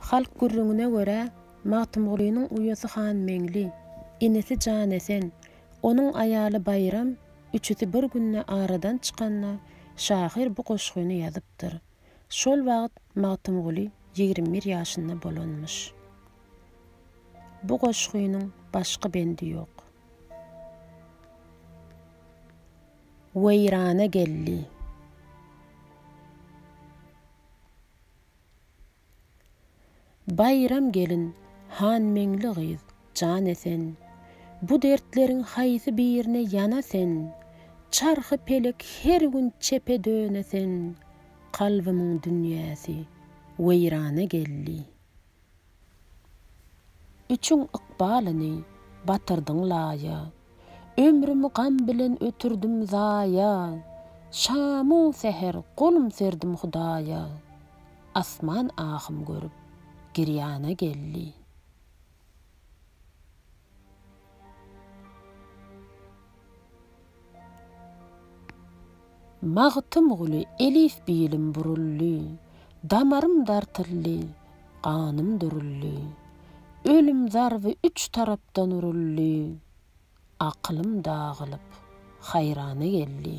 Halk gürrüňine görä, Magtymgulynyň uýasy Hanmeňli, inisi Janesen, onuň aýaly Baýram üçüsi bir günde aradan çykanda şahyr bu goşgyny ýazypdyr. Şol wagt Magtymguly ýigrimi bir ýaşynda bolanmyş. Bu goşgynyň başga bendi ýok. weýrana geldi. Baýram gelin, Hanmeňli gyz, jana sen. Bu dertleriň haýsy birine ýana sen? Çarhy pelek her gün çepe döne sen. Kalbymyň dünýäsi weýrana geldi. Üçin ykbalyny batyrdyň laýa. Ömrüm gam bilen ötürdim zaýa. Şamu säher golum serdim Hudaýa. Asman ahym görüp, girýana geldi. Magtymguly elif-bilim buruldy, Damarym dartyldy, ganym duruldy, Ölüm zarby üç tarapdan uruldy, Akylym dagylyp, haýrana geldi.